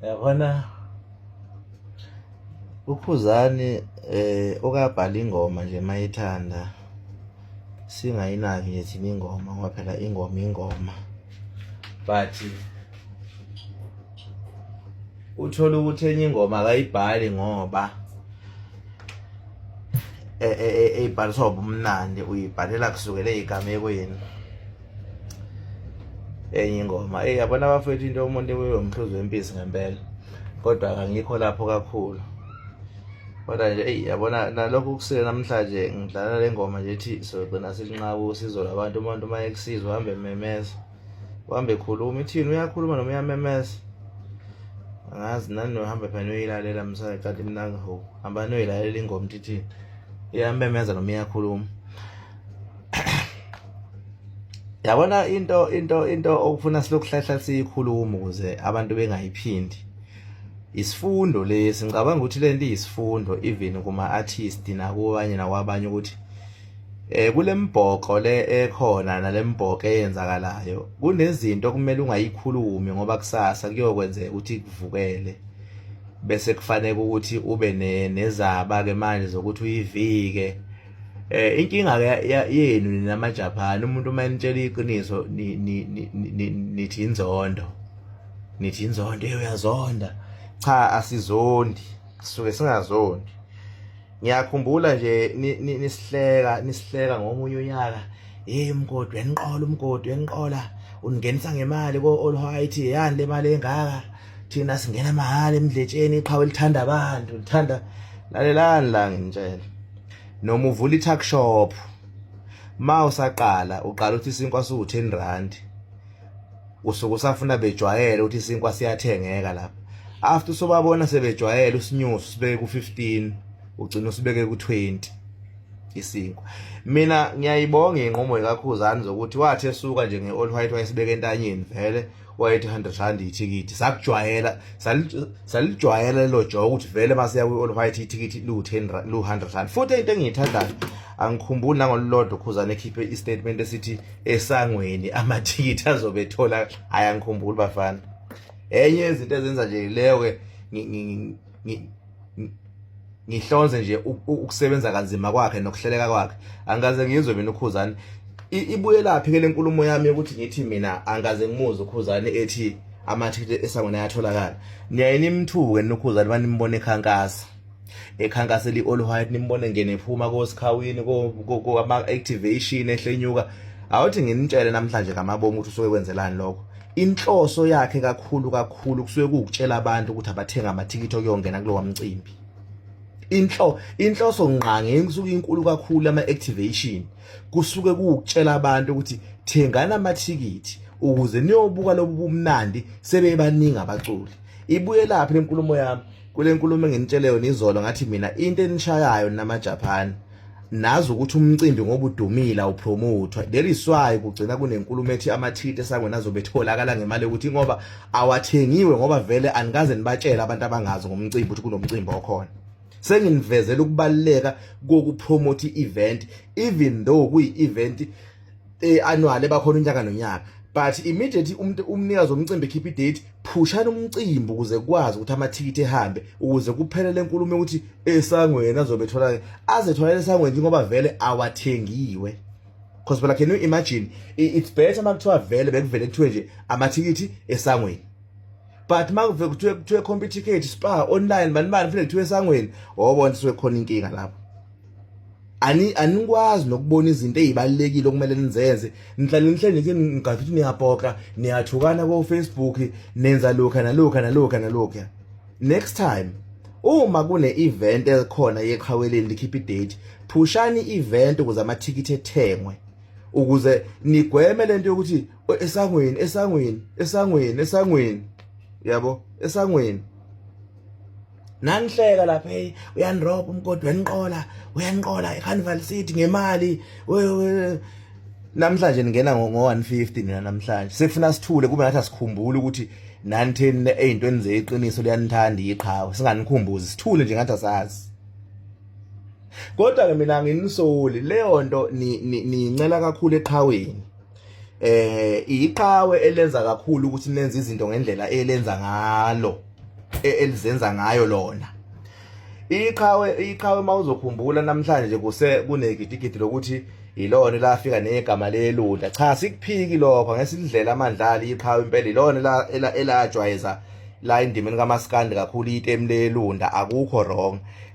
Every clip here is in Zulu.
yabona uphuzani eh okabhala ingoma nje mayithanda singayinaki nje thina ingoma ngoba phela ingoma ingoma but uthola ukuthi enye ingoma akayibhali ngoba eyibhaliswa ubumnandi uyibhalela kusukela eyigamekweni enye ingoma eyi yabona abafethu into umuntu ibuye umhluzi wempisi ngempela kodwa kangikho lapho kakhulu kodwa nje eyi yabona nalokho kusile namhlanje ngidlala le ngoma nje ethi sogcina silinqaba usizo labantu umuntu uma ekusizwa uhambe memeza uhambe khuluma ithini uyakhuluma noma uyamemeza angazi nani nohamba phela noyilalela msana kanti mina ngiho hamba noyilalela ingoma ithithini iyamemeza noma iyakhuluma yabona into into into okufuna silokuhlahla siyikhuluma ukuze abantu bengayiphindi isifundo lesi ngicabanga ukuthi lento iyisifundo even kuma artist nakubanye nakwabanye ukuthi eh kulembhoqo le ekhona nalembhoqo eyenzakalayo kunezinto okumele ungayikhulumi ngoba kusasa kuyokwenzeka ukuthi kuvukele bese kufanele ukuthi ube nezaba ke manje zokuthi uyivike eh inkinga ke yenu nina maJapan umuntu uma enitshela iqiniso nithi inzondo nithi inzondo uyazonda cha asizondi sisuke singazondi ngiyakhumbula nje nisihleka nisihleka ngomunye unyaka hey umgodi weniqola umgodi weniqola uningenisa ngemali ko all white yani le mali engaka thina singena mahhala emdletsheni iqhawe lithanda abantu lithanda lalelani la ngintshela noma uvula i-tuck shop ma usaqala uqala uthi isinkwa siwu-ten rand usuke usafuna bejwayele ukuthi isinkwa siyathengeka lapha after usobabona sebejwayele usinyusi usibeke ku-fifteen ugcina usibeke ku-twenty isinkwa mina ngiyayibonga inqumo ikakhuzani zokuthi wathi esuka nje nge-all white wayesibeke entanyeni vele wayethi 100 rand ithikithi sakujwayela salijwayela lelo joke ukuthi vele masiya kwi-all white ithikithi liwu-10 liwu-100 rand futhi into engiyithandayo angikhumbuli nangolulodwa ukhuzane ekhiphe istatement esithi esangweni amathikithi azobe ethola hhayi angikhumbuli bafana enye yezinto ezenza nje leyo-ke ngihlonze nje ukusebenza kanzima kwakhe nokuhleleka kwakhe angikaze ngizwe mina ukhuzani ibuyelaphi ke lenkulumo yami yokuthi ngithi mina angikaze ngimuze ukhuzani ethi amathikithi esangweni ayatholakala niyaye nimthuke nokhuzani banimbone ekhankasa ekhankasa eli all white nimbone ngene phuma kosikhawini ko ama activation ehlenyuka awuthi nginitshele namhlanje ngamabomu ukuthi usuke kwenzelani lokho inhloso yakhe kakhulu kakhulu kusuke kuwukutshela abantu ukuthi abathenga amathikithi okuyongena kulowa mcimbi inhlo inhloso ngqange engisuke inkulu kakhulu ama activation kusuke kuwukutshela abantu ukuthi thengana amathikithi ukuze niyobuka lobu bumnandi sebebaningi abaculi ibuye laphi lenkulumo yami kule nkulumo enginitsheleyo nizolo ngathi mina into enishayayo namaJapan nazi ukuthi umcimbi ngoba udumile awupromothwa there is why kugcina kunenkulumo ethi amathiti esangweni azobe etholakala ngemali yokuthi ngoba awathengiwe ngoba vele anikaze nibatshele abantu abangazi ngomcimbi ukuthi kunomcimbi okhona senginivezela ukubaluleka kokupromote i-event even though kuyi-event e annual ebakhona unyaka nonyaka but immediately umuntu umnikazi womcimbi ekhipha idate phushana umcimbi ukuze kwazi ukuthi amathikithi ehambe ukuze kuphele lenkulumo ukuthi esangweni azobe thola azithola esangweni njengoba vele awathengiwe because phela can you imagine it's better uma kuthiwa vele bekuvele kuthiwe nje amathikithi esangweni but uma kuve kuthiwe kuthiwe computer ticket spa online mani mani vele kuthiwe esangweni wobona siwe khona inkinga lapho ani anikwazi nokubona izinto ezibalekile okumele nizenze nihlale nihlale nje ngigathi ukuthi niyapoka niyathukana ko Facebook nenza lokha nalokha nalokha nalokha next time uma kune event elikhona yeqhaweleni likhipha idate phushani event ukuze amathikithi ethengwe ukuze nigweme lento yokuthi esangweni esangweni esangweni esangweni yabo esangweni nanihleka lapha hey uyanirobha umgodi weniqola uyanqola ecarnival city ngemali namhlanje ningena ngo-150 nina namhlanje sekufuna sithule kube ngathi asikhumbuli ukuthi nanitheni ey'ntweni zeqiniso liyanithanda iqhawe singanikhumbuzi sithule nje ngathi asazi kodwa-ke mina nginisoli leyo nto niyincela kakhulu eqhaweni eh iqhawe elenza kakhulu ukuthi nenze izinto ngendlela elenza ngalo e, elizenza ngayo lona iqhawe iqhawe mawuzokhumbula namhlanje kuse kunegidigidi lokuthi ilona lafika negama lelunda cha sikuphiki lokho ngesidlela amandlala iqhawe impela ilona elajwayeza la endimeni kamaskandi kakhulu itemu lelunda akukho wrong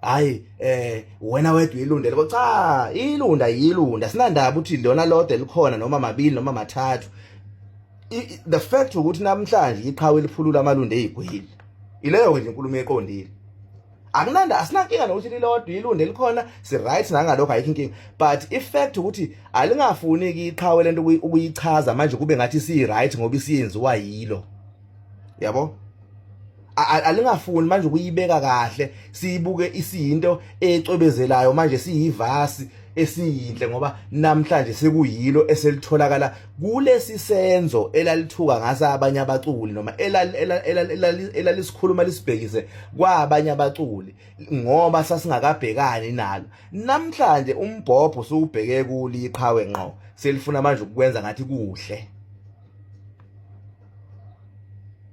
hayi eh wena wedwa ilunde loko cha ilunda yilunda sinandaba ukuthi lona lodwa elikhona noma mabili noma mathathu the fact ukuthi namhlanje iqhawe eliphulula amalunde ezigwili ileyo nje inkulumo eqondile akunanda asinankinga nokuthi lilodwa ilunde likhona si right nangalokho ayikho inkinga but i fact ukuthi alingafuni iqhawe lento ukuyichaza manje kube ngathi si right ngoba isiyenziwa yilo yabo alingafuni manje ukuyibeka kahle siyibuke isiyinto ecwebezelayo manje siyivasi esiyinhle ngoba namhlanje sekuyilo eselitholakala kulesi senzo elalithuka ngasa abanye abaculi noma elalisikhuluma lisibhekise kwabanye abaculi ngoba sasingakabhekani nalo namhlanje umbhobho suwubheke kuli iqhawe ngqo selifuna manje ukwenza ngathi kuhle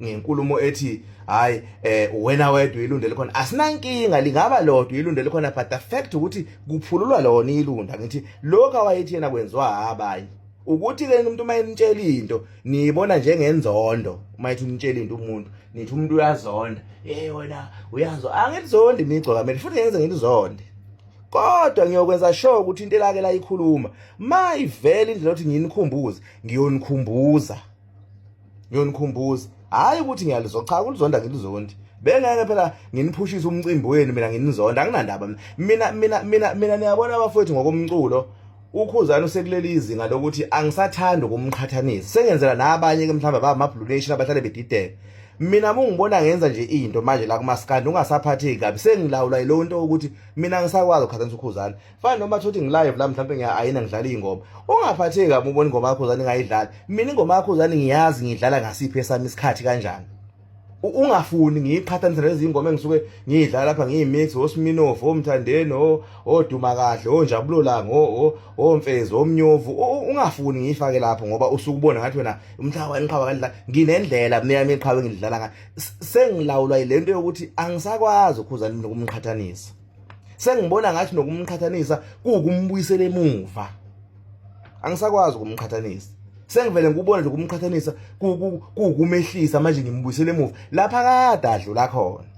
ngenkulumo ethi hayi eh wena wedwa ilunde likhona asinankinga lingaba lodwa ilunde likhona but the fact ukuthi kuphululwa lona ilunda ngithi lokho awayethi yena kwenziwa abanye ukuthi ke umuntu uma enitshela into niyibona njengenzondo uma ethi unitshela into umuntu nithi umuntu uyazonda hey wena uyazo angizonde imigco kamele futhi ngenze ngilizonde kodwa ngiyokwenza sure ukuthi into elake layikhuluma mayivela indlela othi nginikhumbuze ngiyonikhumbuza ngiyonikhumbuza hhayi ukuthi ngiyalizwa cha kulizonda ngilizondi bengeke phela nginiphushise umcimbi wenu mina nginizonda anginandaba mina mina mina mina niyabona abafowethu ngokomculo ukhuzana usekuleli izinga lokuthi angisathandi ukumqhathanisa sengenzela nabanye ke mhlawumbe abamablue nation abahlale bedideka mina mungibona ngenza nje into manje la kumaskandi ungasaphatheki kabi sengilawula yilo nto ukuthi mina ngisakwazi ukuqhathanisa ukhuzana fana noma thothi ngilive la mhlawumbe ngiya ayina ngidlala ingoma ungaphatheki kabi ubona ingoma yakho zani ngayidlala mina ingoma yakho zani ngiyazi ngidlala ngasiphi esami isikhathi kanjani ungafuni ngiyiqhathanise nezingoma engisuke ngiyidlala lapha ngiyimix osminof omthandeni oduma kahle onjabulo lango omfezi omnyovu ungafuni ngiyifake lapho ngoba usuke ubona ngathi wena umhlaba waniqhaba kanjla nginendlela mina yami iqhawe ngidlala ngayo sengilawulwa yilento yokuthi angisakwazi ukhuza umqhathanisa sengibona ngathi nokumqhathanisa kuwukumbuyisela emuva angisakwazi ukumqhathanisa sengivele ngikubona nje ukumqhathanisa kuwukumehlisa manje ngimbuyisele emuva lapha kade adlula khona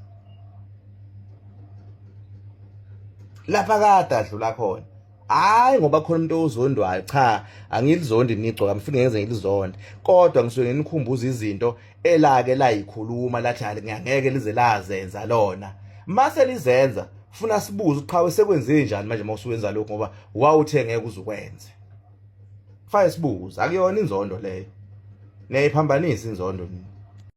lapha kade adlula khona hayi ngoba khona umuntu ozondwayo cha angilizondi nigcoka ngifike ngenze ngilizonde kodwa ngisuke nginikhumbuza izinto elake layikhuluma lathi ngeke lize lazenza lona mase lizenza funa sibuze uqhawe sekwenze njani manje mawusuwenza lokho ngoba wawuthe ngeke uzukwenze fire sibuze akuyona inzondo leyo niyayiphambanisa inzondo nini